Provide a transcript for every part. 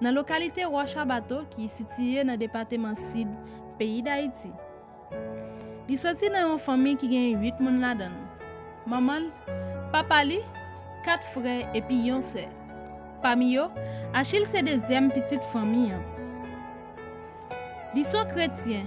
nan lokalite Wòch a Bato ki sitiye nan depateman Sid peyi Dayiti. Li soti nan yon fanmi ki gen 8 moun ladan l, manman l, papa li, 4 frè epi yon sè. Pami yo, Achil se dezyèm pitit fanmi an. Li son kretyen.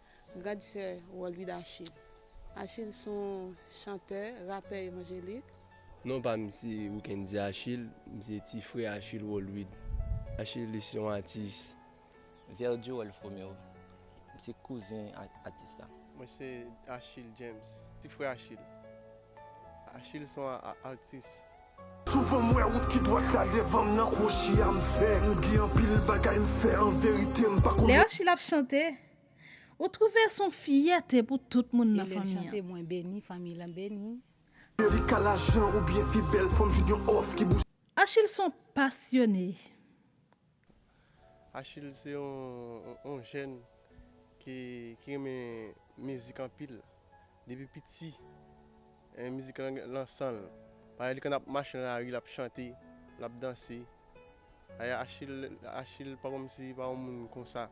Grande Sœur Wòl Vida Achille Achille s on chantè, rapè evanjelik. Non pa m se Wickendy Achille, m se ti frè Achille Wòl Wid. Achille s yon atis. Verdieu Wòl Fromeo M se kouzen atis la. Mwen se Achille James, ti frè Achille. Achille s on atis. Souvan m wè wout ki dwat la devan m nan kwochi a m fè m gen anpil bagay m fè anverite m pa konn. Lè Achille ap chante Ou trouve son fiyète pou tout moun nan fanmi an. Elèn chante mwen beni fanmi lan beni. Erika lajan ou byen fi bèl fanm jwenn yon òf ki bouche. Achil son pasyone. Achil se yon jèn ki renmen mizik anpil. Depi piti mizik lan gen lan sanl. Pareil li konn ap mache nan lari lap chante, lap danse. Aya Achille Achille pa konm si pa yon moun konsa.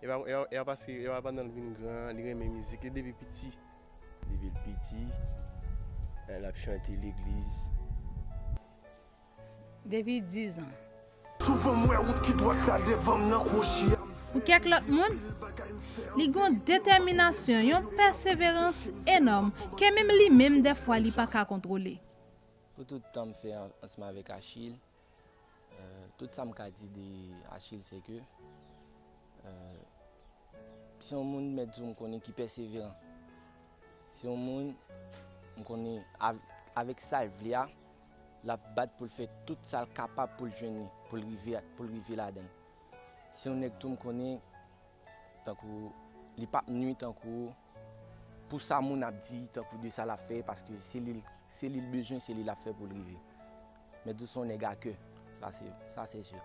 Epa epa paske epa pandanl vin gran li renmen mizik li depi piti. Depil piti lap chante legliz. depi dizan. Souvan m wè wout ki dwat la devan m nan kwochi a. Pou kèk lòt moun, li gen yon detèminasyon, yon pèseverans enòm ke menm li menm dèfwa li pa ka kontwole. Pou tout tan m fè ansanm avèk Achille, tout sa m ka di de Achille se ke se yon moun mèt di w m konnen ki pèseveran. Se yon moun m konnen avèk sa l vle a, L ap bat pou l fè tout sa l kapab pou l jwenn li, pou l rive pou l rive ladan l. Se yon nèg tou m konnen tankou w, li p ap nwi tankou w pou sa moun ap di tankou de sa l ap fè paske se li l se li l bezwen se li l ap fè pou l rive. Mèt Doussaint yon nèg a kè, sa se sa se sûr.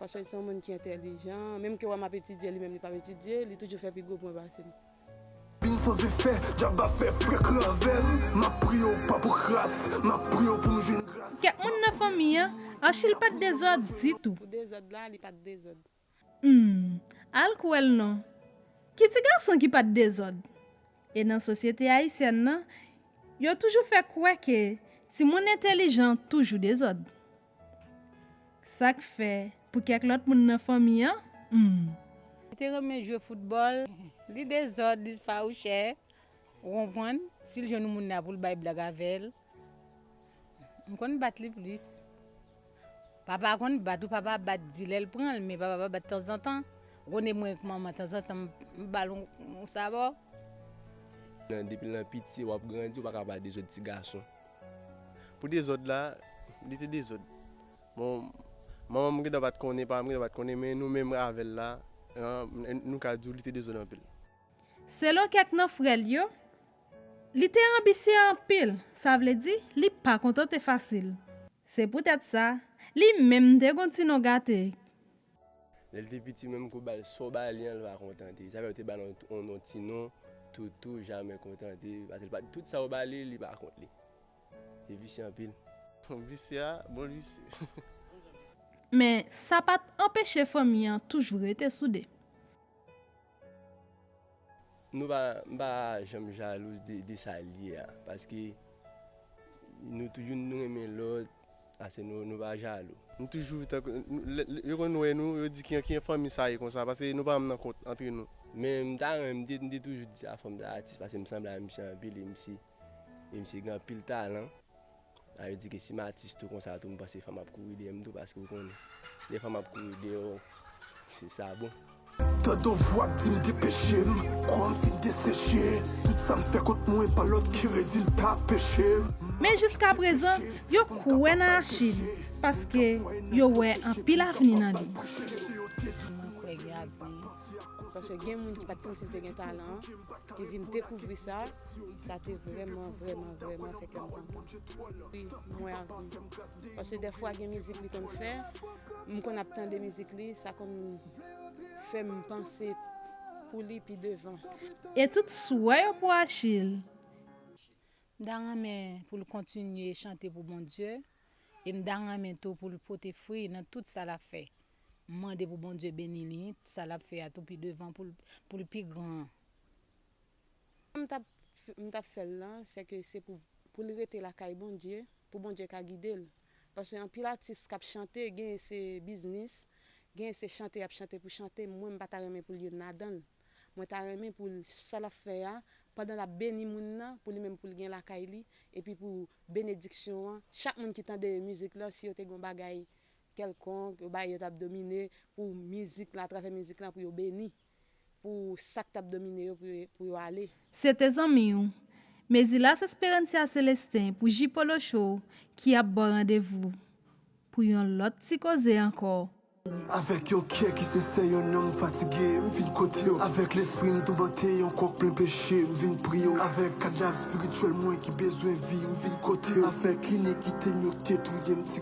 Paske li se yon moun ki entelijan. Menm ke wè map etidye li menm li pap etidye, li toujou fè pi gwo pwen pase m. Vin sans efè, djab ap fè frekan avè m. Map priye w pa pou kras, map priye w pou m jwenn gras. Kèk moun nan fanmi an, Anchil pat dezòd ditou. Pou dezòd la, li pat dezòd. Humm al k wèl non. Ki ti gason ki pat dezòd? E nan sosyete ayisyèn nan, yo toujou fè kwè ke timoun entelijan toujou dezòd. Sa k fè pou kèk lòt moun nan fanmi an, humm. Li te renmen jwe foutbòl, li dezòd, li fawouchè, ou konprann? Si l jwenn yon moun la pou l bay blag avè l. M konn bat li plis. Papa konn bat ou, papa ap bat di lè l pran l, men papa pa bat tanzantan. Rone mwen ak manman tanzantan m ba l yon sabò. Depi nan piti w ap grandi, ou pa ka ba dezòd ti gason. Pou dezòd la, li te dezòd. Bon, manman m gentan pa t konnen, papa m gentan pa t konnen men nou menm avè l la, nou ka di w li te dezòd anpil. Selon kèk nan frè l yo, li te anbisye anpil, sa vle di li pa kontante fasil. Se poutèt sa, li menm te gen yon ti non gate ki. Lè l te piti, menm ke w ba l sa w ba li an, l pa kontante. Sa fè yo te ba l yon non ti non, Toutou, jamè kontante, paske l pa tout sa w ba li, li pa kont li. Li visye anpil. Visye a, bon l visye. Men, sa pa t anpeche fanmi an toujou rete soude. Nou pa m pa janm jalouz de sa l ye a paske nou toujou nou renmen lòt ase nou pa jalou. Nou toujou tankou lè yo konn wè nou yo di ki jan fanmi sa ye konsa paske nou pa janm nan kont antre nou. Men m ta renmen m te toujou di sa fanm sa atis paske m sanble a misye anpil e misye gen anpil talan. Sa vle di ke si m atis tou konsa tou m panse fanm ap kouri dèyè m tou paske ou konnen lè fanm ap kouri dèyè w se sa bon. Tande yon vwa k di m depeche m kò m fin deseche tout sa m fè kont mwen pa lòt ke rezilta peche m. Men jiska prezan, yo kwè nan Achil paske yo wè anpil avni nan li. Mwen kwè gen avni paske gen moun ki pa t panse l te gen talan ki vin dekouvri sa. Sa te vrèman vrèman vrèman fè kè m kontan. Wi, m wè avni. Paske dèfwa gen mizik li konn fè, m konn ap tande mizik li, sa konn fè m panse pou li pi devan. E tout souwè yo pou Achille. M ta renmen pou l kontinye chante pou Bondye e m ta renmen tou pou l pote fri nan tout sa l ap fè. M mande pou Bondye beni li, sa l ap fè a tou pi devan pou l pi gran. Sa m tap m tap fè l lan sè ke se pou pou l rete lakay Bondye pou Bondye ka gide l paske anpil atis kap chante genyen se biznis genyen se chante yap chante pou chante mwen m pa ta renmen pou l youn ladan l mwen ta renmen pou l sa lap fè a pandan lap beni moun nan pou li menm pou l gen lakay li epi pou benediksyon an chak moun ki tande mizik lan si yo te gon bagay kèlkonk yo bay yo tap domine pou mizik la atravè mizik la pou yo beni. Pou sak tap domine yo pou yo ale. Se te zanmi w. Mezilas Esperancia Celestin pou Ji Polo Show ki ap ba w randevou pou yon lòt ti koze ankò. Avèk yon kè ki sensè yon nanm fatige m vin kote w avèk lespri m toubante yon kòk plen peche m vin priye w avèk kadav spirityèl mwen ki bezwen vi m vin kote w avèk inikitem yo k te touye m ti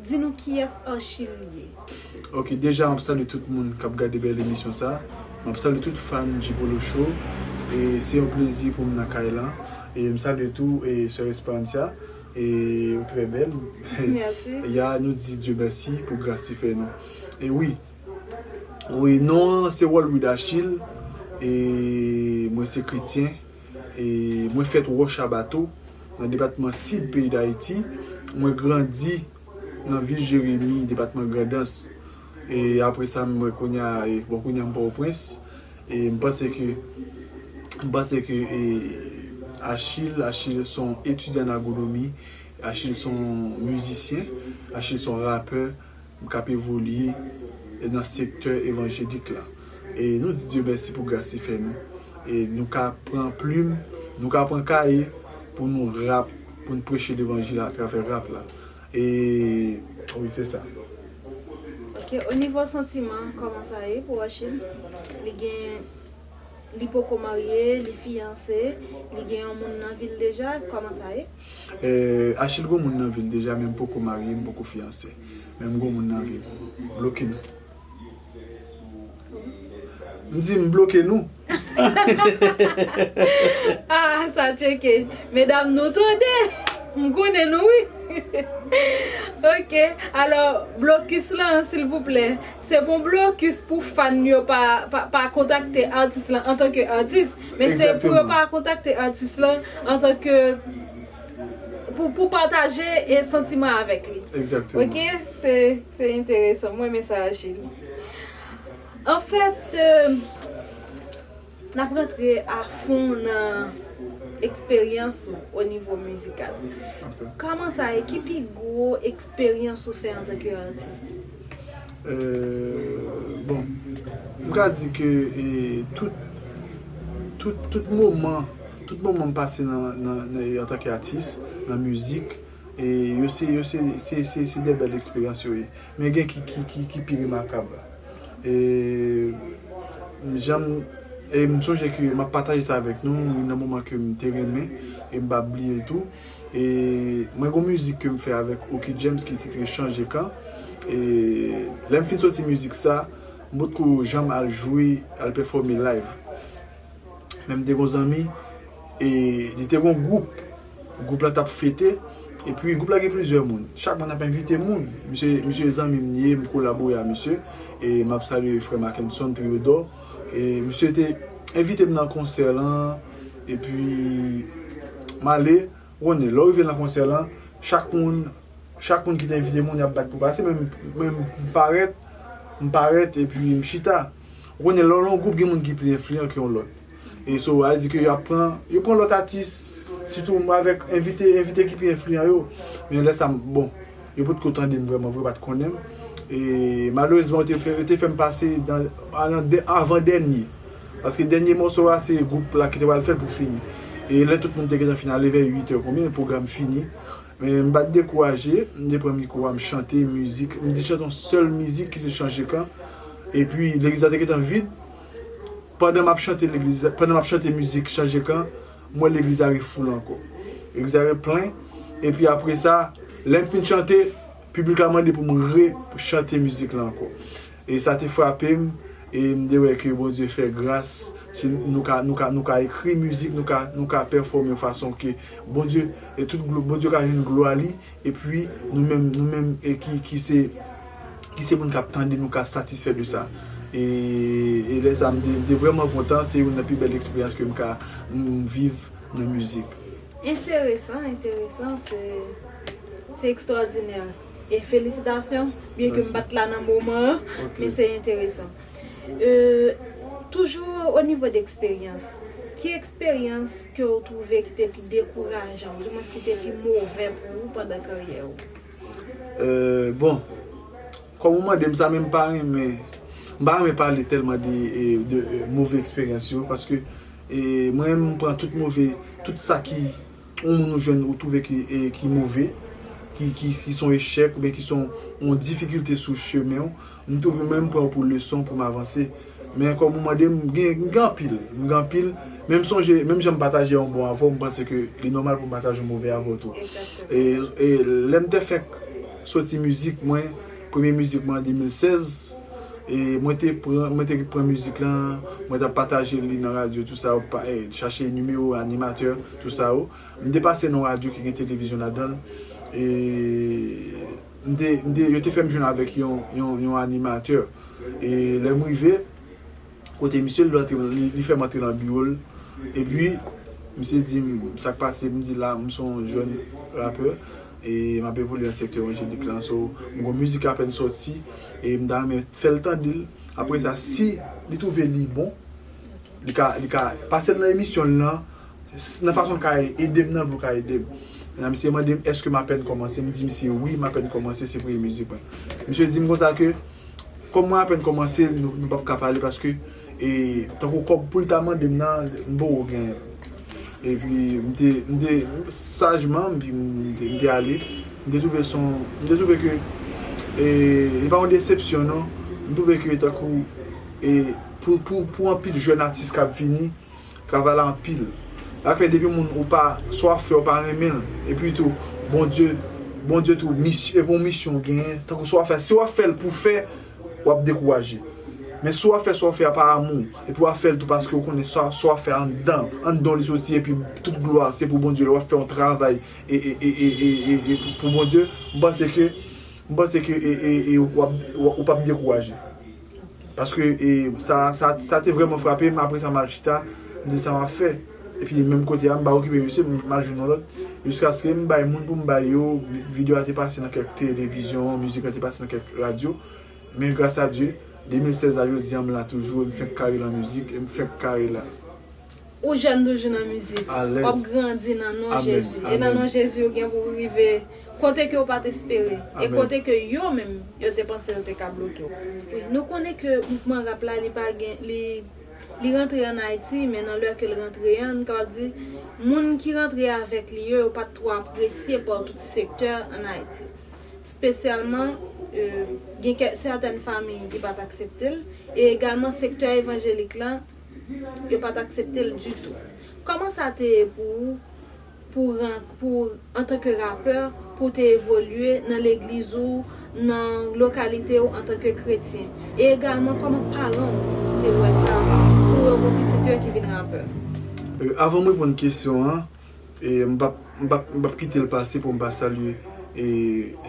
Di nou kiyès Archil ye? Ok deja map salye tout moun kap gade bèl emisyon sa map salye tout fan Gpolo show e se yon plezi poum nan kay lan e m salye tou e sè Esperancia e ou trè bèl e ya nou di Dye mèsi pou gras li fè nou e wi wi non an se Walwid Achille e mwen se kretyen Mwen fèt Wòchabato, nan depatman Sid peyi Dayiti. Mwen grandi nan vil Jeremi, depatman Grandans. E apre sa, mwen kounye a, bon kounye a m Pòtoprens. E m panse ke, m panse ke Achille, Achille se yon etidyan an agronomi. Achille se yon mizisyen. Achille se yon rapè. M k ap evolye nan sektè evanjelik la. E nou di Dye mèsi pou gras li fè nou. E nou ka pran plim, nou ka pran kaye pou nou rap, pou n preche levanjil atravè rap la. E wi se sa. Ok, o nivo santiman kòman sa ye pou Rachid? Li gen, li poko marye, li fiyanse, li gen yon moun nan vi l deja, kòman sa ye? Eh Achil gon moun nan vil deja men m poko marye m poko fiyanse men m gon moun nan vil bloke nou m di m bloke nou Ah sa tcheke medam nou tande m konnen nou wi ok alò blokis lan silvouplè Se pou blocus pou fan yo pa pa kontakte atis lan antan ke atis, men se pou yo pa kontakte atis lan antan ke pou pou pataje santiman avèk li ok se enteresan mwen renmen sa Achille anfèt. Nap rantre a fon nan eksperyans ou o nivo mizikal. Kòman sa ye? Ki pi gwo eksperyans ou fè antanke atis? Bon, m ka di ke tout tout tout moman tout moman m pase nan nan antanke atis nan mizik. E yo se, yo se, se, se, se de bèl eksperyans yo ye. Men gen ki, ki, ki, ki pi remakab. E m jan m, e m sonje ke m ap pataje sa avèk nou, youn nan moman ke m te renmen, e m pa p bliye l tou. E mwen gen yon mizik ke m fè avèk Oky James ki titre Chanje Kan. E lè m fin soti mizik sa, m potko janm al jwe, al pèfòme live. Men m te gon zanmi e li te gon gwoup. Gwoup la t ap fete. E pi gwoup la gen plizyè moun. Chak moun ap envite moun. Misye misye zanmi m ye, m kolabore a misye. E m ap salye frè Mackenson Triodor. E misye te envite m nan konsè lan. E pi m ale. Rone, lè w rive nan konsè lan, chak moun, chak moun ki te envite moun y ap bat pou pase, men menm m parèt, m parèt epi m chita. Rone, lè w lan yon gwoup gen moun ki pli enfliyan ke yon lòt. E so a di ke y ap pran, yo pran lòt atis, sitou avèk envite, envite ki pi enfliyan yo. Men lè sa m, bon, Yo potko tande m vrèman vre, yo pa t konnen m. E malerezman yo te fè m pase nan avan dènye. Paske dènye mòso a se gwoup la ki te pral fè l pou fini. E lè tout moun te gentan fin ale vè 8 è konbyen, pwogram fini. Men m pa t dekouraje, m te pran mikwo a m chante mizik. M te chante yon sèl mizik ki se Chanje Kan. E pi legliz la te gentan vid. Pandan m ap chante mizik Chanje Kan, M wè legliz la refoule ankò. Legliz la replen, epi apre sa, lè m fin chante, piblik la mande pou m re chante mizik la ankò. E sa te frape m, e m te wè ke Bondye fè gras, si nou ka, nou ka, nou ka ekri mizik, nou ka, nou ka pèfòme yon fason ke Bondye, e tout glwa, Bondye ka jwenn glwa li. Epi, nou menm, nou menm ki se, ki se moun k ap tande, nou ka satisfè de sa. E, e lè sa a, m te, m te vrèman kontan. Se youn nan pi bèl eksperyans ke m ka viv nan mizik. Enteresan, enteresan, se, se ekstwòdinè. E felisitasyon, byen ke m pa t la nan moman an, men se enteresan. E, toujou onivo de eksperyans, ki eksperyans. ke ou twouve ki te pi dekourajan, oudiwens ki te pi move pou ou pandan karyè ou? Bon, kòm ou mande m sa men m pa renmen, m pa renmen pale tèlman de move eksperyans yo, paske mwen menm m pran tout move, tout sa ki yon moun ou jwenn ou twouve ki move, ki son echèk oubyen ki son yon difikilte sou chemen ou. M toujou menm pranw pou leson poum avanse men kòm ou mande m gen m gen anpil m gen anpil men m sonje menm jan m pataje yon bon avèw m panse ke li nòmal poum pataje yon move avèw tou e lèm te fenk soti mizik mwen premye mizik mwen an 2016 e mwen te pran mwen te pran mizik lan mwen tap pataje li nan radyo tou sa yo chache nimewo animatè tou sa yo m te pase nan yon radyo ki gen televizyon ladanl e. M te, m te, yo te fè m jwenn avèk yon, yon, yon animatè. E lè m rive kote misye, li rantre, li, li fè m antre nan biwo l. Epi, misye di m, sa k pase? M di l, la, m son jèn rapè e m ap evolye nan sektè evanjelik lan. So, m gon mizik k apèn sòti e m ta renmen fè l tande l. Apre sa, si li twouve li bon, li ka, li ka pase m nan emisyon l lan. Nan fason l ka ede m nan pou l ka ede m. Nan misye mande m èske m apèn kòmanse, m di misye wi m apèn kòmanse se premye mizik mwen. Misye di m konsa ke kòm mwen apèn kòmanse nou pap ka pale paske e tankou kòb pou l ta mande m nan m poko genyen. Epi m te m te sajman m te ale. M te twouve son m te twouve ke e li pa yon desepsyon non. M twouve ke tankou e pou pou anpil jèn atis k ap vini. Travay la anpil. Sak fè depi moun ou pa sa wap fè ou pa renmenl epi tou Bondye Bondye tou e gon misyon ou genyen tankou sa wap fè si wap fèl pou fè wap dekouraje men si wap fè sa wap fè a pa amou epi wap fèl tou paske ou konnen sa sa wap fè anndan anndan w li soti epi tout glwa se pou Bondye lè wap fè yon travay e pou Bondye m panse ke m panse ke e e wap ou pap dekouraje. Paske sa te vrèman frape m, apresa m al chita, m di sa m ap fè. Epi menm kote a m pa okipe misye, m al jwenn yon lòt. Jiskaske m bay moun pou m bay yo, video a te pase nan kèk televizyon, mizik la te pase nan kèk radyo. Men gras a Dye, 2016 a jodi a m la toujou e m fenk kare lan mizik, e m fenk kare la. Ou jèn toujou nan mizik. Wap grandi nan non Jezi. E nan non Jezi ou gen pou ou rive kote ke ou pat espere. E kote ke yo menm yo te panse yo te ka bloke ou. Wi, nou konnen ke mouvman rap la li pa gen, li Li rantre an Ayiti men nan lè ke l rantre an nou kapab di moun ki rantre avèk li yo yo pat twò apresye pa tout sektè an Ayiti. Spesyalman gen kèk sètèn famiy ki pat aksepte l e egalman sektè evanjelik lan Yo pa t aksepte l ditou. Kòman sa te ye pou ou pou w ran, pou w, antanke rapè, pou w te evolye nan legliz ou, nan lokalite ou antanke kretyen? E egalman kòman paran w te wè sa pou yo gen pitit yo ki vin rapè? Avan m reponn kesyon an, m p ap, m p ap, m p ap kite l pase pou m pa salye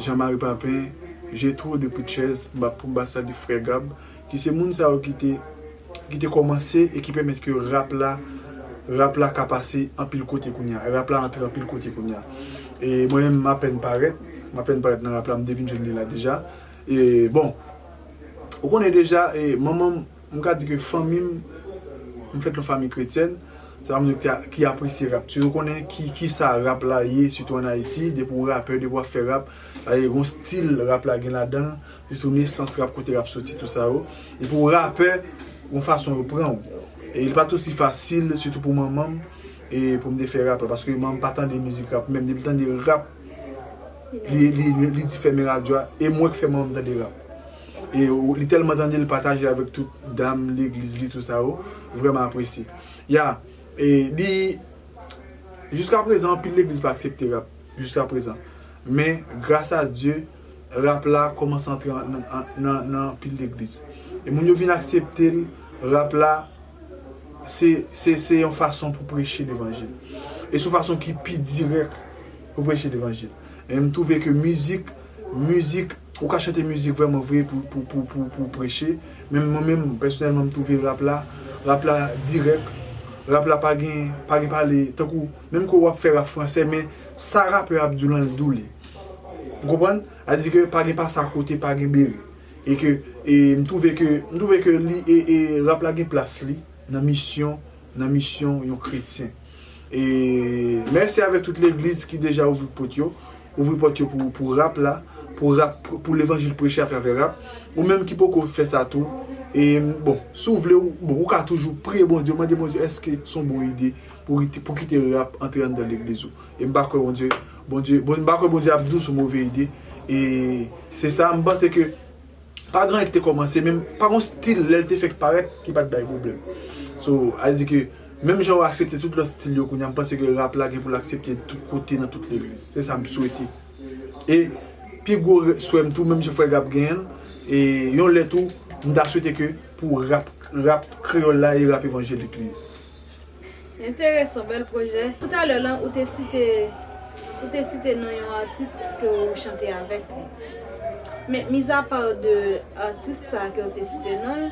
Jean Marie Papin, Jetro de Pritchez, m p ap, pou m pa salye frè Gab, Ki se moun sa yo ki te ki te kòmanse e ki pèmèt ke rap la rap la ka pase anpil kote kounye a, rap la antre anpil kote kounye a. E mwen menm m apèn parèt, m apèn parèt nan rap la, m te vin jwenn li la deja. E bon, ou konnen deja e manman m, m ka di ke fanmi m, m fèt nan fanmi kretyèn, se pa moun yo ki te ki apresye rap. Yo konnen ki ki sa rap la ye sitou an Ayiti, depi w rapè, depi w ap fè rap, e gon stil rap la gen ladan l. Sitou nesans rap kote rap soti tout sa yo. Epi ou rapè yon fason yo pran ou. E li pat osi fasil sitou pou manmanm e poum te fè rap la paske manmanm pa tande mizik rap menm depil tande rap li di fèmen radyo a e mwen k fè manmanm tande rap. E li tèlman tandel li patajel avèk tout dam legliz li tout sa yo vrèman apresye. Ya e li jiska prezan anpil legliz pa aksepte rap jiska prezan men gras a Dye. rap la kòmanse antre nan anpil legliz. E moun yo vin aksepte l, rap la se yon fason pou preche levanjil. E se yon fason ki pi dirèk pou preche levanjil. E m twouve ke mizik, mizik, ou ka chante mizik vrèman vre pou preche. Men mwen menm, pèsonèlman m twouve rap la, rap la dirèk, rap la pa gen pale, tankou menm ke w ap fè rap fransè men sa rapè a ap di w lan l di w li. Ou konprann? A di ke pa gen pase a kote pa gen bere. E ke e m twouve ke m twouve ke li e e rap la gen plas li nan misyon nan misyon yon kretyen. E mèsi avèk tout legliz ki deja ouvri pot yo. Ouvri pòt yo pou pou rap la. Pou rap pou levanjil preche a travè rap. Ou menm ki poko fè sa tou e bon si w vle bon ou ka toujou priye Bondye mande Bondye èske son bon ide pou pou kite rap antre anndan legliz ou. E m pa kwè Bondye, Bondye, m pa kwè Bondye ap dous ou move ide. E se sa, m panse ke pa gen anyen ki te kòmanse, men pa gen yon stil lè l te fèk parèt ki pa t bay pwoblèm. So, al di ke menm jan yo aksepte tout lòt stil yo kounye a, m panse ke rap la gen pou l aksepte tout kote nan tout legliz. Se sa m swete. E pi gwo swè m tou, menm jan Frè Gab genyen l, e yon lè tou, m ta swete ke pou rap, rap kreyòl la e rap evanjelik li. Enteresan, bèl pwojè. Tout a lè lan ou te site ou te site non yon atis ke ou chante avèk li. Men mizapa de atis sa a ke ou te site non l,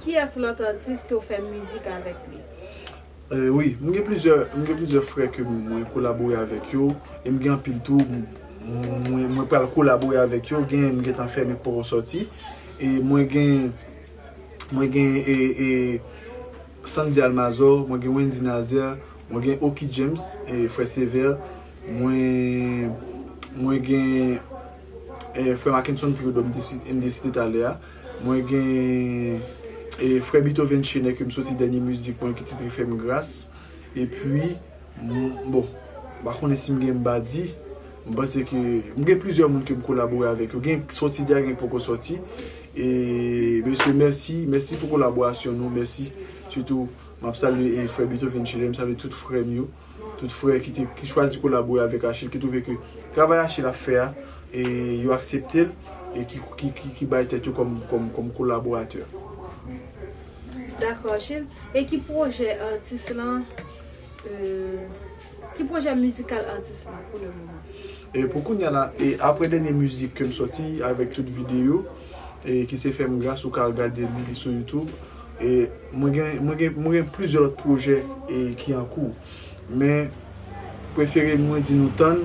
kiyès lòt atis ke ou fè mizik avèk li? Wi, m gen plizyè m gen plizyè frè ke mwen kolabore avèk yo e m gen anpil tou mwen pral kolabore avèk yo. Gen m gentan fè men k poko sòti e mwen gen. mwen gen Sandy Almazor, mwen gen Wendy Nazer, mwen gen Oky James, Frè Sévère, mwen gen Frè Mackenson Théodore m te site talè a, mwen gen Frè Beethoven Chenet ke m soti dènye mizik mwen ki titre Fè m Gras, epi. Bon, m pa konnen si m gen m ba di. M panse ke m gen plizyè moun ke m kolabore avèk yo. Gen k soti deja, gen k poko soti. E mesye mèsi, mèsi pou kolaborasyon nou, mèsi. Sitou m ap salye frè Beethoven Chédel, m salye tout frè m yo. Tout frè ki te, ki chwazi kolabore avèk Achille, ki twouve ke travay Achille ap fè a, e yo aksepte l, e ki bay tèt yo kòm kolaboratè. Dakò Achille. E ki pwojè atis lan? Ki pwojè mizikal atis la pou le moman? Pou kounya la, apre dènye mizik ke m sòti avèk tout videyo, ki se Fè m Gras ou ka al gade li sou youtube, mwen gen plizyè lòt pwojè ki an kou. Men, prefere mwen di nou tann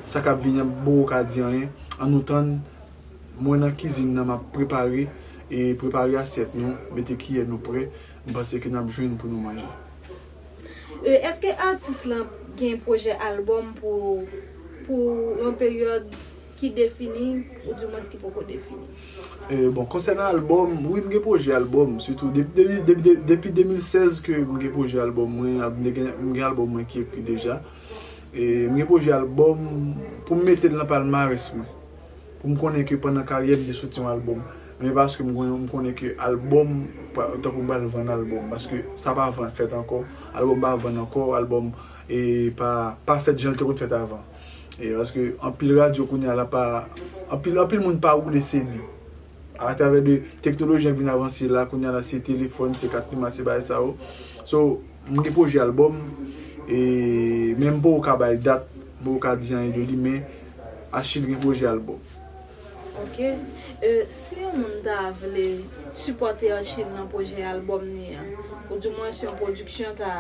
sa k ap vini an, m poko ka di anyen, an nou tann, mwen nan kizin nan m ap prepare, prepare asyèt nou, mete kiyè nou prè, M panse ke nap jwenn pou nou manje. E eske atis lan gen pwojè album pou pou yon peryòd ki defini ou di mwens ki poko defini? E bon konsènan album, wi m gen pwojè album sitou depi depi depi depi 2016 ke m gen pwojè album mwen ap m gen m gen album mwen ki ekri deja e m gen pwojè album pou m mete l nan palmarès mwen. Pou m konnen ke pandan karyè m te soti yon album, men paske m konnen, m konnen ke album pa tankou m pral vann album, paske sa pa vann fèt ankò, album pa vann ankò, album e pa pa fèt jan l te konn fèt avan. E paske anpil radyo kounya la pa, anpil anpil moun pa woule CD. A travè de teknoloji an k vin avanse la, kounya la se telefòn, se kat memwa, se bagay sa yo. So, m gen pwojè album e men m poko ka bay dat, m poko ka di anyen de li men Achille gen pwojè album. Ok euh si yon moun ta vle sipòte Achille nan pwojè album ni an ou di mwens yon pwodiksyon ta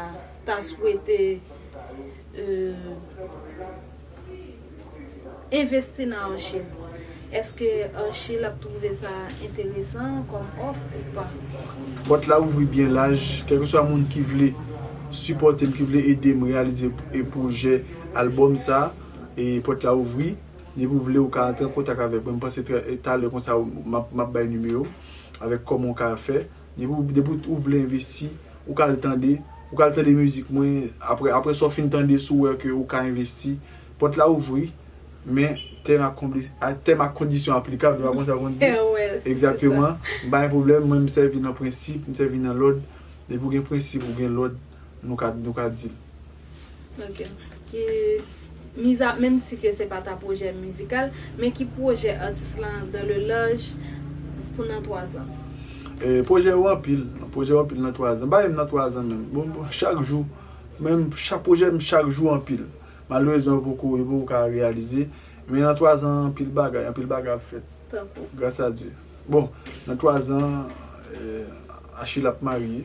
ta swete euh envesti nan Achille eske Achille ap twouve sa enteresan kòm òf ou pa? Pòt la ouvri byen laj kèlkeswa moun ki vle sipòtem ki vle edem reyalize pwojè album sa. E pòt la ouvri, depi ou vle ou ka antre an kontak avèk mwen, m panse talè konsa m ap bay nimewo m, avèk kòman ou ka fè, depi ou vle envesti, ou ka al tande, ou ka al tande mizik mwen, aprè sa ou fin tande si ou wè ke ou ka envesti, pòt la ouvri, men tèm ak kondisyon aplikab, se pa konsa konn di, egzakteman, m pa gen pwoblèm, mwen m sèvi nan prensip, m sèvi nan lòd, depi ou gen prensip, ou gen lòd, nou ka deal. Ok. Ki miza menm si ke se pa ta pwojè mizikal, men ki pwojè atis lan dans le large pou nan 3 zan? Eh pwojè yo anpil, pwojè yo anpil nan 3 zan. Pa menm nan 3 zan menm. Bon chak jou menm chak pwojè m chak jou anpil. Malerezman yo poko yo poko ka reyalize. Men nan 3 zan anpil bagay, anpil bagay ap fèt. Tankou? Gras a Dye. Bon nan 3 zan Achille ap marye.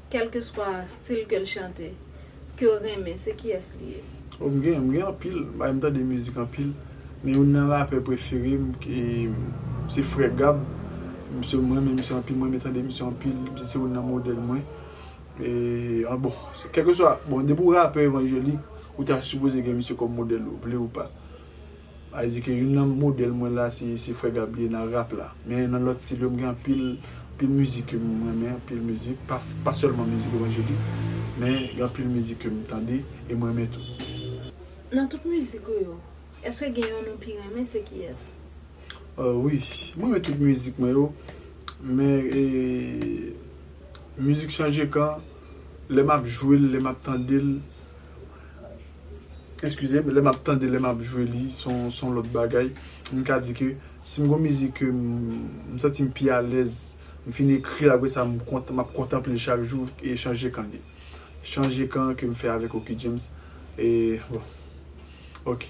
Kelkeswa stil kel chante kew renmen se kiyes li ye? Oh m gen, m gen anpil bagay m tande mizik anpil men youn nan rapè prefere m se frè gab misye m renmen misye anpil m renmen tande misye anpil misye se youn nan modèl mwen an bon kèlkeswa bon depi w rapè evanjelik ou ta sipoze gen misye kòm modèl ou vle ou pa. Male di ke youn nan modèl mwen la se frè Gab liye nan rap la. Men nan lòt stil yo m gen anpil anpil mizik ke m renmen anpil mizik pa sèlman mizik evanjelik men gen anpil mizik ke m tande e m renmen tou. Nan tout mizik ou yo eske gen yonn ou pi renmen se kiyès? Wi m renmen tout mizik mwen yo men mizik chanje kan lè m ap jwe l lè m ap tande l. Eskize m, lè m ap tande, lè m ap jwe li, se yon, se yon lòt bagay. M ka di ke si m gen yon mizik ke m, m santi m pi alèz, m fin ekri l apre sa m kontan, m ap kontanple l chak jou, e Chanje Kan li. Chanje Kan ke m fè avèk Oky James, e bon, ok.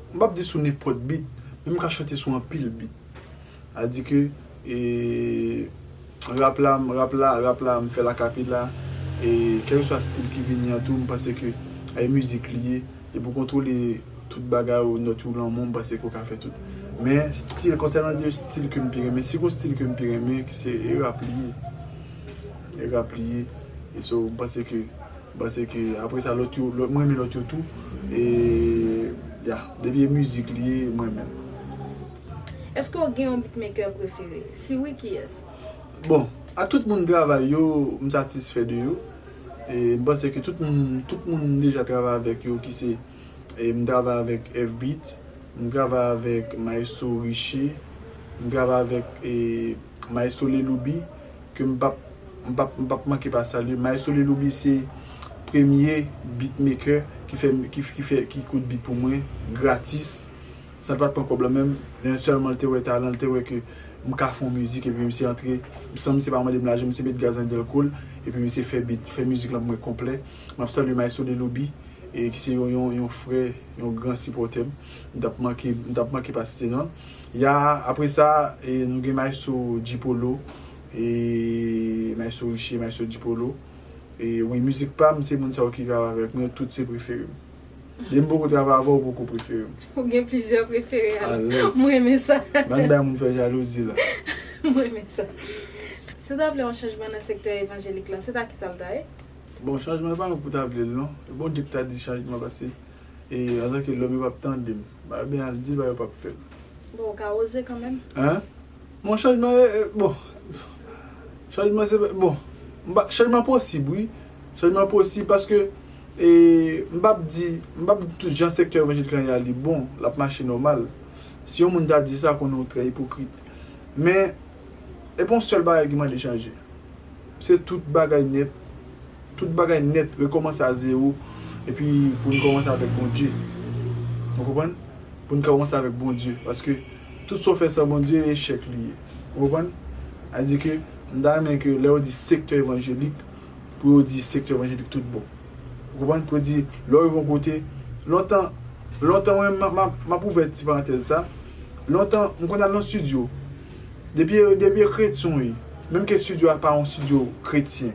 M pap di sou nenpòt beat, men m ka chante sou anpil beat. A di ke rap la, rap la, rap la m fè l a kapela, e kèlkeswa stil ki vini an tou m panse ke e mizik li ye, e pou kontwole tout bagay ou, nòt ou, lanmou, m panse ke ou ka fè tout. Men stil, konsènan de stil ke m pi renmen, si gon stil ke m pi renmen, se e rap li ye. E rap li ye. E so m panse ke. M panse ke apre sa lòt yo, m renmen lòt yo tou e ya, depi e mizik li ye m renmen l. Eske w gen yon beatmaker prefere? Si wi kiyès? Bon, ak tout moun m travay yo, m satisfè de yo. E m panse ke tout moun, tout moun m deja travay avèk yo ki se, m travay avèk F-beat, m travay avèk maestro Riché, m travay avèk e. Maestro Leloubi ke m pap m pap m pap manke pa salye. Maestro Leloubi se premye beatmaker ki fè ki fè ki koud beat pou mwen gratis san l pat pran kòb lan menm. Lè sèlman l te wè talan l te wè ke m ka fon mizik epi misye antre san misye pa mande m lajan misye met gaz nan dèlko l epi misye fè beat fè mizik lan pou mwen konplè. M ap salye Maestro Leloubi e ki se yon yon frè yon gran sipòtè m. M tap manke m tap manke pa site non l. Ya apre sa nou gen maestro G-polo e maestro Riche maestro G-polo e wi mizik pam se moun sa yo ki travay avèk mwen tout se preferem depi m poko travay avèw ou poko preferem. Ou gen plizyè prefere alèz. M renmen sa. Bann bay moun fè jalouzi la. M renmen sa. Si w ta vle yon chanjman nan sektè evanjelik lan se ta kisa l ta ye? Bon chanjman e pa mwen pou ta vle l non. Bondye pou ta di chanjman pase. E antanke lòm yo pap tande m. Ba byen al di ba yo pap fè l. Bon ou ka oze kanmenm. Hein? Bon chanjman e bon chanjman se bon m pa chanjman posib wi chanjman posib paske e m pap di m pap di tout jan sektè evanjelik lan ye a li bon l ap mache nòmal si yon moun ta di sa konnen ou trè ipokrit men E pa yon sèl bagay ki mande chanje. Se tout bagay nèt. Tout bagay nèt rekòmanse a zewo epi pou n kòmanse avèk Bondye. Ou konprann? Pou n kòmanse avèk Bondye. Paske tout sa w fè san Bondye e echèk li ye. Ou konprann? A di ke m ta renmen ke lè yo di sektè evanjelik pou yo di sektè evanjelik tout bon. Ou konprann? Pou yo di lè w rive yon kote, lontan, lontan mwen menm m ap ouvè ti parantèz sa, lontan m konn al nan studio Depi e depi e kretyon w ye, menm ke studio a pa yon studio kretyen,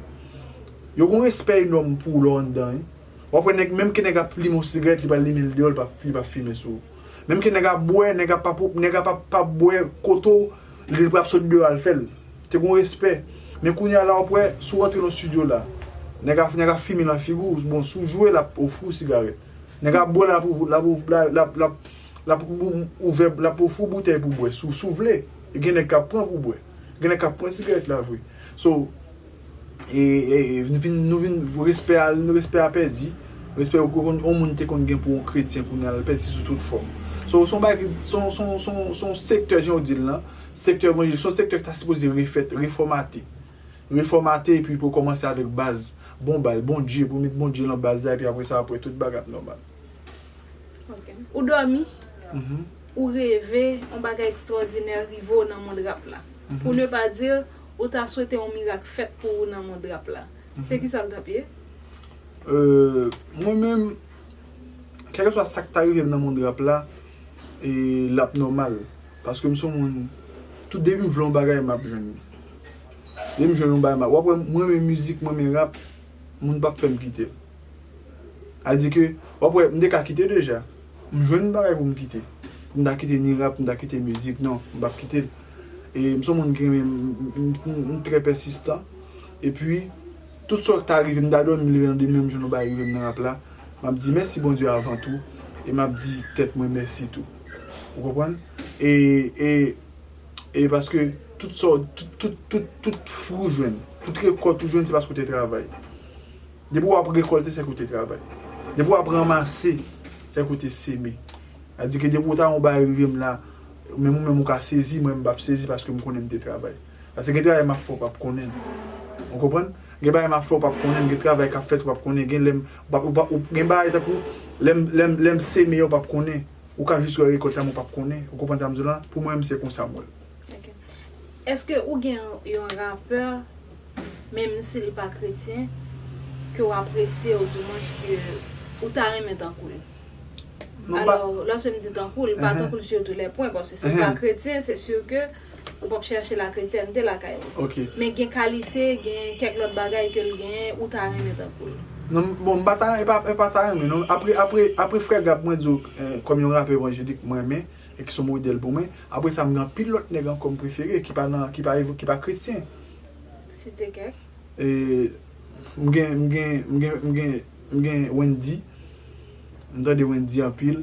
yo gon respè enòm pou w lè w anndan wi. Wap wè nèg menm ke nèg ap limen yon sigarèt li pral limen l deyò li pa li pap fimen sou ou. Menm ke nèg ap bwè, nèg ap pap nèg ap ap pap bwè kote w li pral sot deyò al fè l. Te gon respè. Men kounye a la wap wè si w rantre nan studio la, nèg ap nèg ap fimen nan figi w, bon si w jwe lap ofri w sigarèt. Nèg ap bwè lap ofri lap lap lap. lap ouvè lap ofri w boutèy pou bwè si w vle e gen nèg kap pran pou bwè gen nèg kap pran sigarèt la vre so e nou vin respè a respè a pèdi respè ou konn yon moun te konn gen pou yon kretyen kounya l pèdi sou tout fòm so son bagay ki son son son sektè jan w di l lan sektè evanjelik son sektè ki ta sipoze refèt refòmate refòmate epi pou kòmanse avèk baz bon baz Bondye pou met Bondye lan baz la epi apresa apre tout bagay ap nòmal. Ou dòmi, ou reve yon bagay ekstwòdinè rive w nan mond rap la. Pou ne pa dir, ou ta swete yon mirak fèt pou ou nan mond rap la. Se ki sa l t ap ye? Mwen menm, kèlkeswa sa k ta rive m nan mond rap la, l ap nòmal. Paske m se yon moun, tout depi m vle yon bagay, m ap jwenn li. Depi m jwenn yon bagay, m ap. W ap wè m renmen mizik, m renmen rap, moun pap fèm kite l. A di ke, wap wè, m te ka kite deja. M jwenn yon bagay pou m kite. Pou m ta kite ni rap, pou m ta kite mizik, non, m pap kite l. E m son moun ki renmen, m trè pèsistan. E pi, tout sa ki ta rive, m ta dòmi, m leve nan demen, m jwenn yon bagay rive m nan rap la, m ap di mèsi Bondye avan tou, e m ap di tèt mwen mèsi tou. Ou konprann? E, e. E paske tout sa w, tout fri w jwenn, tout rekòt ou jwenn se paske w te travay. Depi w ap rekòlte se ke w te travay. Depi w ap ranmase se ke w te seme. A di ke depi w ta yon bagay rive m la, menm ou menm ou ka sezi, mwen menm m p ap sezi paske m konnen m te travay. Paske gen travay m ap fè ou p ap konnen. Ou konprann? Gen bagay m ap fè ou p ap konnen, gen travay k ap fèt ou p ap konnen, gen lè m, gen bagay tankou lè m seme yo ou p ap konnen. Ou ka jis wè rekòt la men w pap konnen. Ou konprann sa m di w la? Pou mwen menm se konsa m wè l. Ok. Eske ou gen yon rapè menm si li pa kretyen ke w apresye ou di mwens ke ou ta renmen tankou l? Alò, lòske m di tankou l, pa tankou l sur tous les points paske si l pa kretyen se sur ke Ou pap chache la kretyente lakay ou. Ok. Men gen kalite, gen kèk lòt bagay ke l genyen ou ta renmen tankou l. Non, bon m pa ta, e pa, e pa ta renmen non. Apre, apre, apre frè Gab mwen di w kòm yon rapè evanjelik ke m renmen e ki s on modèl pou mwen, apre sa m gen anpil lòt nèg ankò m prefere ki pa nan, ki pa, ki pa kretyen. Site kèk. E, m gen, m gen, m gen, m gen, m gen Wendy. M tande Wendy anpil.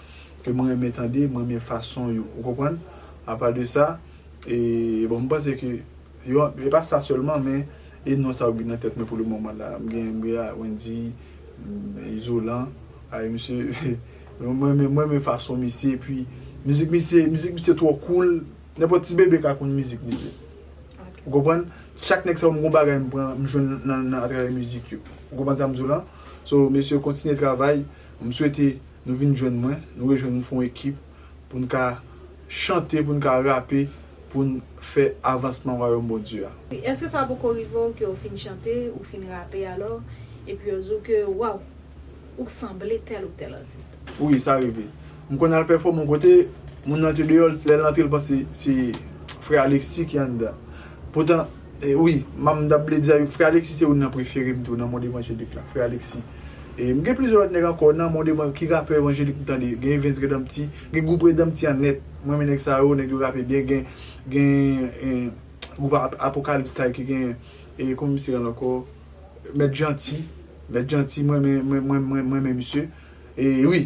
ke m renmen tande, m renmen fason yo, ou konprann? Apa de sa, e bon m panse ke yo, e pa sa sèlman men, e non sa yo k vin nan tèt mwen pou le moman la. M gen, m gen a Wendyy, Izolan, ay misye, m renmen, m renmen fason misye, epi mizik misye, mizik misye twò cool, nenpòt ti bebe ka konn mizik misye. Ou konprann? Chak nèg sa yo m gon bagay m pran, m jwenn nan, nan atravè mizik yo. Ou konprann sa m di w lan? So mesye kontinye travay, m swete Nou vin jwenn mwen, nou rejwenn nou fon ekip pou n ka chante, pou n ka rape, pou n fè avansman Wayòm Bondye a. Wi, èske sa poko rive w ke w fin chante, ou fin rape alò, epi yo di w ke, Waww! Ou k sanble tèl ou tèl atis. Wi, sa rive. M konn al pèfòme yon kote, moun nan te deyò, lè l antre l panse se Frè Alexis ki anndan. Poutan, E wi, mam tap vle di a yo frè Alexis se youn nan preferem tou nan mond evanjelik la, frè Alexis. E m gen plizyè lòt nèg ankò nan mond evan ki rapè evanjelik m tande, gen Evens Redampti, gen gwoup Redampti an nèt, m renmen nèg sa yo, nèg yo rape byen, gen gen gwoup Apocalypse style ki gen e kòman misye rele ankò Mèt Janti, Mèt Janti m renmen m renmen misye e wi.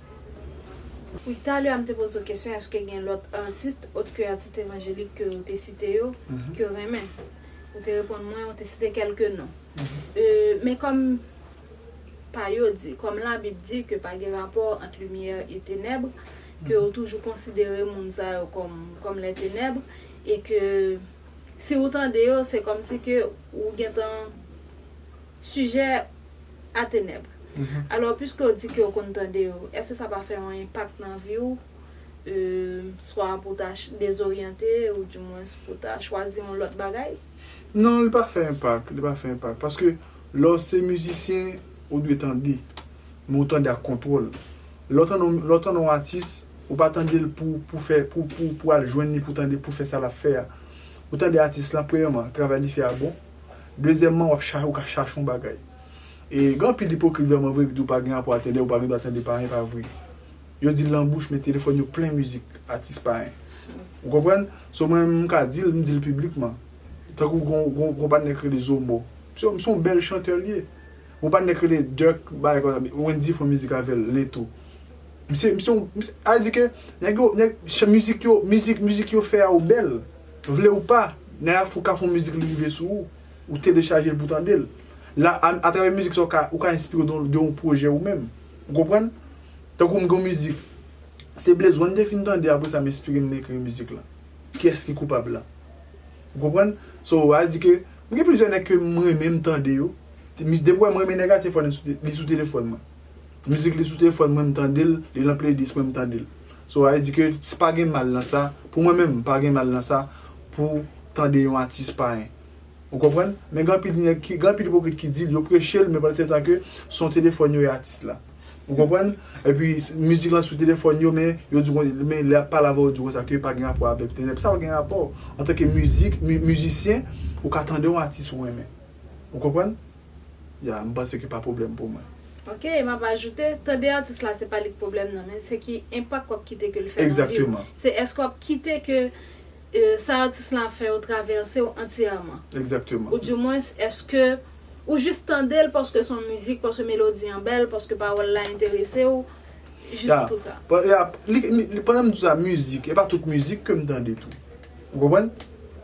Wi talè a m te poze w kesyon eske gen lòt atis ot ke atis evanjelik ke w te site yo ke w renmen. Ou te reponn mwen ou te site kelke non. Men kòm pa yo di, kòm labib di ke pa gen rapò ant limyè e tenèbre, ke w toujou konsidere moun sa yo kòm les tenèbres e ke si w tande yo se kòm si ke w gentan Sijè a tenèb. Alò piske w di ke w konn tande yo, èske sa pa fè yon enpak nan vi w? Swa pou w ta dezoryante ou di mwens pou w ta chwazi yon lòt bagay? Non, li pa fè enpak, li pa fè enpak. Paske lè w se mizisyen, ou dwe tande. Men ou tande ak kontwòl. Lè w tande, lè w tande yon atis, ou pa tande l pou, pou fè, pou, pou, pou al jwenn li pou tande, pou fè sa l ap fè a. Ou tande atis lan, premyèman, travay li fè a bon. Dezyèmman, wap chache ou ka chache yon bagay. E gen anpil ipokrit vrèman vre ki di ou pa gen apò a tande, ou pa gen dwa tande payen pa vre. Yo dil nan bouch men telefòn yo plen mizik atis payen. Ou konprann? So mwen menm m ka dil, m dil piblikman. Tankou gon patnè ki rele Zomo. Msye m son bèl chantè li ye. Gon patnè ki rele Dirk bagay konsa, Wendyy fè yon mizik avèl, Leto. Msye, msye yon, sa vle di ke nèg yo, nèg, mizik yo, mizik, mizik yo fè a yo bèl. Vle ou pa, Naya Fou ka fon mizik li rive sou ou, ou telechaje l pou tande l. La a, atravè mizik sa ou ka ou ka enspire w de yon pwojè ou menm. Ou konprann? Tankou m gen yon mizik, se Blaze One m te fin tande apre sa m enspire m ekri mizik lan. Kiyès ki koupab la? Ou konprann? So, a vle di ke m gen plizyè nèg ke m renmen m tande yo. Depi w wè m renmen nèg a, te fwa li sou telefòn mwen. Mizik li sou telefòn mwen m tande l, li nan playlist mwen m tande l. So a di ke si pa gen mal nan sa, pou mwen menm pa gen mal nan sa pou tande yon atis payen. Ou konprann? Men gen anpil nèg ki, gen anpil ipokrit ki di l, yo preche l men pandan setan ke son telefòn yo e atis la. Ou konprann? Epi mizik lan sou telefòn yo men yo di kon, men lè y ap pale avè w yo di konsa ke pa gen rapò avèk tenèb. Sa pa gen rapò. Antanke mizik, mizisyen, ou ka tande yon atis ou renmen. Ou konprann? Ya, m panse ki pa pwoblèm pou mwen. Ok, e m ap ajoute, tande atis la se pa li k pwoblèm nan, men se ki enpak w ap kite ke l fè nan vi w. Egzakteman. Se èske w ap kite ke sa atis lan ap fè yo travèse w antyèman. Egzakteman. Ou di mwens èske ou jis tande l paske s on mizik, paske melodi an bèl, paske pawòl la enterese w, jis pou sa. Ya, ya, li, li, pandan m di w sa mizik, e pa tout mizik ke m tande tou. Ou konprann?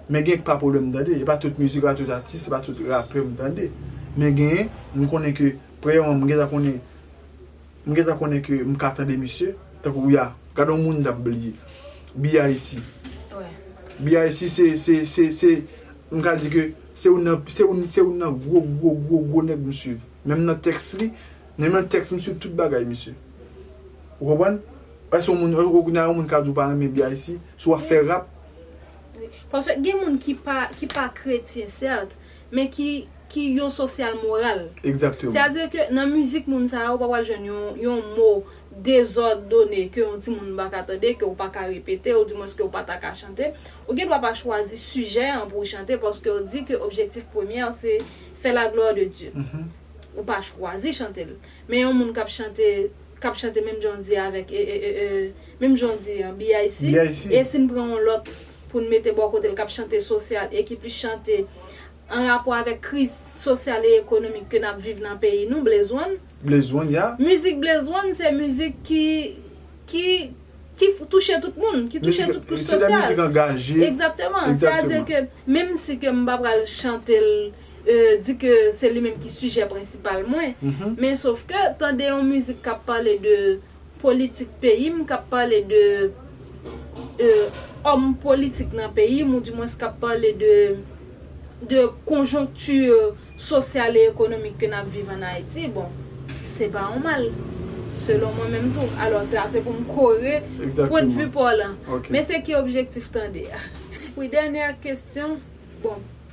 Men gen pa pwoblèm m tande. E pa tout mizik, e pa tout atis, e pa tout rapè m tande. Men gen, m konnen ke premyèman m gentan konnen m gentan konnen ke m ka tande misye. Tankou ya, gade yon moun m t ap bliye. BIC. BIC se, se, se, se m ka di ke se youn nan, se youn, se youn nan gwo, gwo, gwo, gwo nèg m suiv. Menm nan tèks li, menm nan tèks m suiv tout bagay misye. Ou konprann? Eske yon moun, eske kounya yon moun ka di ou pa renmen BIC, si wap fè rap? Wi. Paske gen moun ki pa, ki pa kretyen sèt, men ki, ki yon sosyal moral. Exactement. Sètadi ke nan mizik moun sa yo ou pa pral jwenn yon, yon mo dezòdone ke yon ti moun pa ka tande, ke ou pa ka repete, ou di mwens ke ou pa ta ka chante. Ou gen dwa pa chwazi sijè an pou ou chante paske ou di ke objektif premyè se fè la glwa de Dye. Ou pa chwazi chante l. Men yon moun kap chante. kap chante menm jan w di avèk e e e e menm jan w di an BIC BIC. e si n pran yon lòt pou n mete bò kote l kap chante sosyal e ki plis chante an rapò avèk kriz sosyal e ekonomik ke nap viv nan peyi nou Blaze One Blaze One ya. mizik Blaze One se mizik ki ki ki touche tout moun ki touche tout kouch sosyal. Se de mizik angaje. Egzakteman. Egzakteman. Sa vle di ke menm si ke m pa pral chante l. di ke se li menm ki sijè prensipal mwen, men sof ke tande yon mizik kap pale de politik peyi m, kap pale de òm politik nan peyi m ou di mwens kap pale de konjonkti sosyal e ekonomik ke nap viv an Ayiti, bon, se pa yon mal, selon mwen menm tou. Alò, sa se pou m kore pwendvi pa w lan. Men se ki objektif tande a. Wi, dènyè kestyon, bon.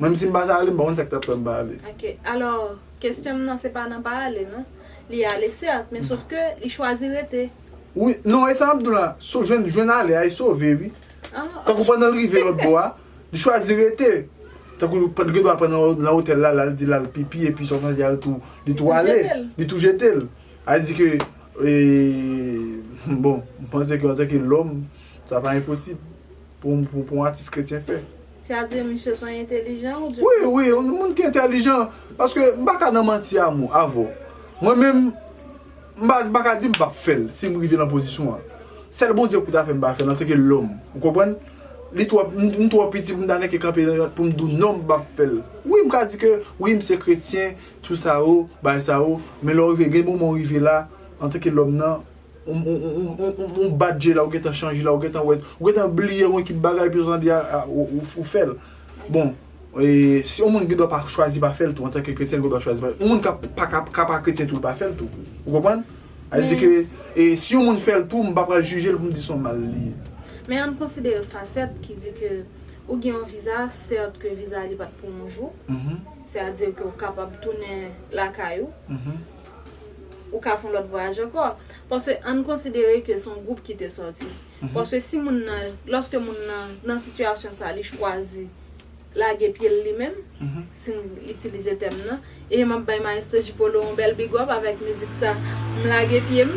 Menm si m pa ta ale m pa konn sa ki t ap fè m pa ale. Ok, alò kesyon m nan se pa nan pa ale non. Li ale sèt, men sof ke li chwazi rete. Wi, non e sa m ap di w la, so jwenn jwenn ale a e sove wi. Tankou pandan l rive lòt bò a, li chwazi rete. Tankou l pat gen dwa pran nan otèl la, l al di l al pipi epi sa w santi a l tou, li tou ale. Li tou jete l. A di ke e bon, m panse ke antanke lòm, sa pa enposib. pou yon atis kretyen fè. Sa vle di misye son entelijan ou di. Wi, wi, yon moun ki entelijan. Paske m pa ka nan manti a mou, avè w. Mwen menm, m pa, m pa ka di m pap fè l, si m rive nan pozisyon an. Sèl Bondye pou ta fè m pa fè l, an tanke lòm. Ou konprann? Li twò, m twò piti pou m ta nèke kanpe pou m di w non m pap fè l. Wi, m ka di ke, wi m se kretyen, tou sa yo, bagay sa yo, men lè w rive, gen moman w rive la, an tanke lòm nan, Ou bat je la ou gentan chanje la ou gentan wè ou gentan bliye yon ekip bagay epi sòtan di a ou fèl bon si yon moun gendwa pa chwazi pa fèl tou antanke kretyen li gendwa chwazi pa fèl yon moun ka pa kretyen tou li pa fèl tou ou konprann sa vle di ke si yon moun fèl tou m pa pral jijel poum di son mal li ye. Men ann konsidere fasèt ki di ke ou gen yon viza sèt ke viza li pat pou yon jou sè a di ke ou kapab tounen lakay ou. Ou ka fon lòt vwayaj ankò. Paske ann konsidere ke son gwoup ki te sòti. Paske si moun nan, lòske moun nan nan sitiyasyon sa li chwazi lage pye l li menm, si n itilize tèm nan, e m ap bay Maestro J Polo yon bèl big up avèk mizik sa M lage pye m,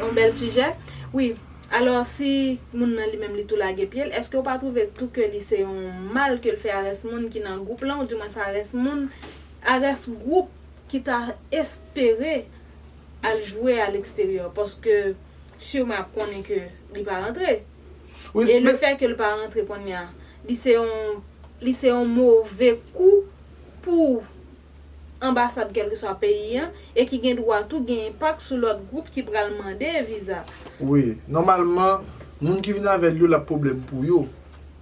yon bèl sijè. Wi, alò si moun nan li menm li tou lage pye l, èske ou pa twouve tou ke li se yon mal ke l fè a rès moun ki nan gwoup lan, ou di mwens a rès moun, a rès gwoup. ki ta espere al jwe a l'extérieur paske sûrement ap konnen ke li pa rantre e le fait ke l pa rantre konnya li se yon li se yon move kou pou anbasad kèlkeswa peyi an e ki gen dwa tou gen enpak sou lòt gwoup ki pral mande viza. Wi, nòmalman moun ki vin avè l yo l ap pwoblèm pou yo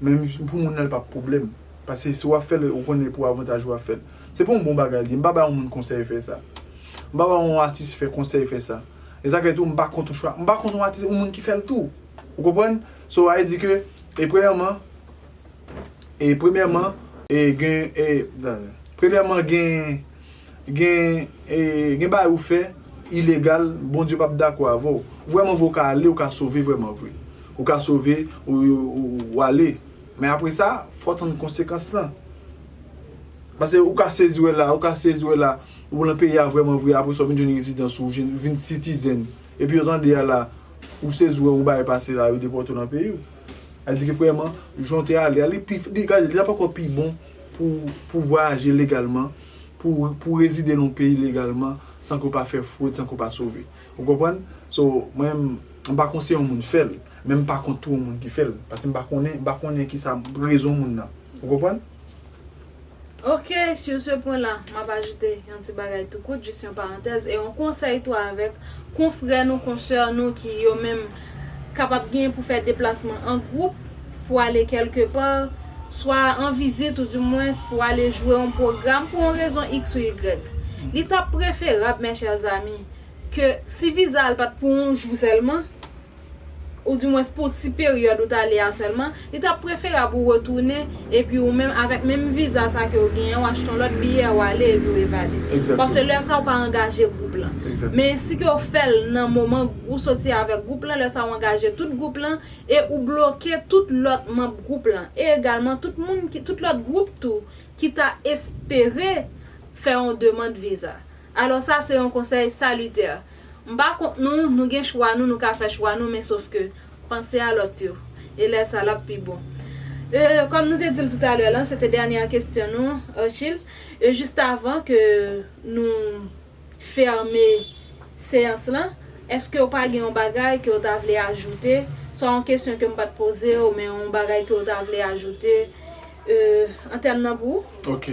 men pou moun nan l p ap pwoblèm. Paske si w ap fè l, ou konnen se pou avantaj ou w ap fè l. Se pa yon bon bagay li ye. M pa bay yon moun konsèy fè sa. M pa bay yon atis fè konsèy fè sa. E sa k fè tou, m pa kont yon chwa. M pa kont yon atis, yon moun ki fè l tou. Ou konprann? So, a di ke, e premyèman, e premyèman, e gen, e, dayè. Premyèman gen, gen, e, gen bagay ou fè, ilegal, Bondye p ap dakò avè w. Vrèmanvre ou ka ale, ou ka sove vrèmanvre. Ou ka sove, ou, ou ale. Men apre sa, fò w tann konsekans lan. Pase ou ka sezi wè la, ou ka sezi wè la, ou lan peyi a vrèman vre, apre sa ou vin jwenn rezidans ou, ou vin sitizèn. Epi yo tande a la, ou sezi wè yon bagay pase la, yo depòte w lan peyi w. Sa vle di ke premyèman, jan w te ale a, li pi, li, gade, li ap ankò pi bon pou w, pou w vwayaje legalman, pou w, pou w rezide lan yon peyi legalman, san ke w pa fè fwod, san ke w pa sove. Ou konprann? So, mwen m pa konseye yon moun fè l, men m pa kont tou yon moun ki fè l. Paske m pa konnen, m pa konnen ki sa rezon moun nan. Ou konprann? Ok, sur ce point là, m ap ajoute yon ti bagay tou kout, jis yon parantèz, e yon konsèy tou avèk konfrè nou, konsè nou ki yo menm kapab genyen pou fè deplasman an gwoup pou ale kèlke pa, swa an vizit ou di mwens pou ale jwe yon pwogram pou yon rezon iks ou igrèg. Li t ap preferab, mes chers amis, ke si viza a l pat pou yon jou sèlman, ou di mwens pou ti peryòd ou t ale a sèlman, li tap preferab ou retounen epi ou menm avèk menm viza sa ke ou genyen an, ou achte yon lòt biyè ou ale epi ou evade. Paske lè sa ou pa angaje gwoup lan. Men si ke ou fè l nan moman ou soti avèk gwoup lan, lè sa ou angaje tout gwoup lan e ou bloke tout lòt manb gwoup lan. E egalman tout moun ki, tout lòt gwoup tou ki ta espere fè yon demand viza. Alò sa se yon konsèy salitè. M pa kont nou, nou gen chwa nou, nou ka fè chwa nou men sof ke, panse a lòt yo. E lè sa l ap pi bon. E, kòm nou te di l toutalè lan, se te dènyè kesyon nou, Ercil, e jistavan ke nou fèmen seyans lan, èske ou pa gen yon bagay ke ou ta vle ajoute, swa yon kesyon ke m pa t poze ou men yon bagay ke ou ta vle ajoute, e, an tèm nan pou ou? Ok.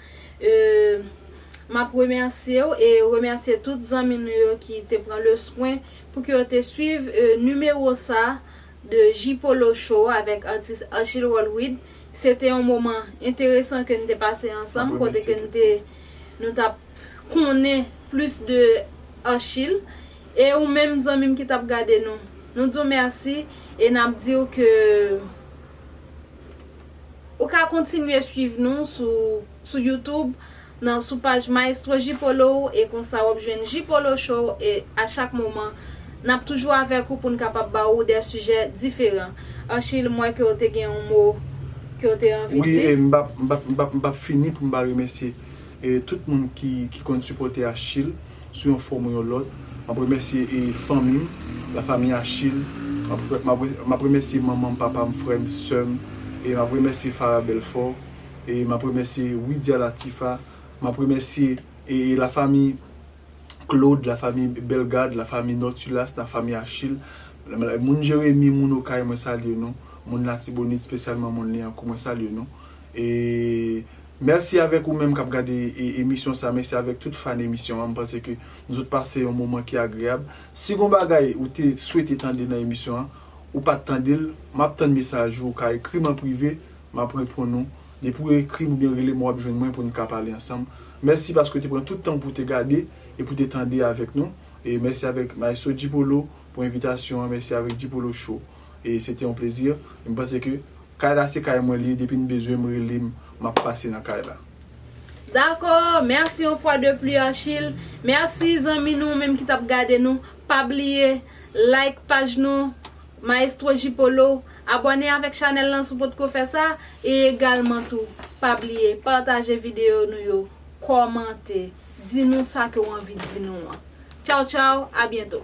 Euhh map remèsyew e remèsye tout zanmi nou yo ki te pran le swen pou ke yo te swiv nimewo sa de J-polo show avèk atis Archil Rolwid se te yon moman enteresan ke nou te pase ansanm kote ke nou te nou tap konnen plis de Archil e ou menm zanmim ki tap gade nou nou diw mèsi e nap diw ke. Ou ka kontinye swiv nou sou sou youtube nan sou paj maestro J Polo e konsa wap jwenn J Polo show e a chak moman nap toujou avèk ou poun kapab ba ou dè sijè diferan Archil m wè ke w te gen yon mo ke w te anvi di. Wi e m pap m pap m pap m pap fini poum pa remèsye tout moun ki ki konn sipòte Archil. sou yon fòm ou yon lòt. M ap remèsye fanmi m, la famille Achille. M ap remèsye manman m, papa m, frè m, sè m. M ap remèsye Farah Belfort. M ap remèsye Widia Latifa. M ap remèsye la famille Claude, la famille Bellegarde, la famille Nortulas, la famille Achille. Moun Jeremie, moun Okay, mwen salye nou. Moun Latibonit, spesyalman moun Lyankou, mwen salye nou. Mèsi avèk ou menm kap gade emisyon sa, mèsi avèk tout fan emisyon an, m panse ke nou sot pase yon moman ki agreyab. Si gon bagay ou te swete tande nan emisyon an, ou pat tande l, map tann mesaj ou, ou ka ekri m an prive, map reponn ou. Depi w ekri m oubyen rele m wap jwenn mwen pou n ka pale ansanm. Mèsi paske w te pran tout tan w pou w te gade e pou w te tande avèk nou. E mèsi avèk Maestro G-Polo pou envitasyon an, mèsi avèk G-Polo Show. e se te yon plezi e m panse ke kay la se kay mwen li ye depi n bezwen m rele m m ap pase nan kay la. Dakò, merci yon fwa de pli Archil, merci zanmi nou menm ki tap gade nou, pa bliye like paj nou Maestro J Polo, abòne avèk chanèl lan si w potko fè sa, e egalman tou pa bliye pataje videyo nou yo, kòmante, di nou sa ke w anvi di nou an. Tchaw tchaw, a byento.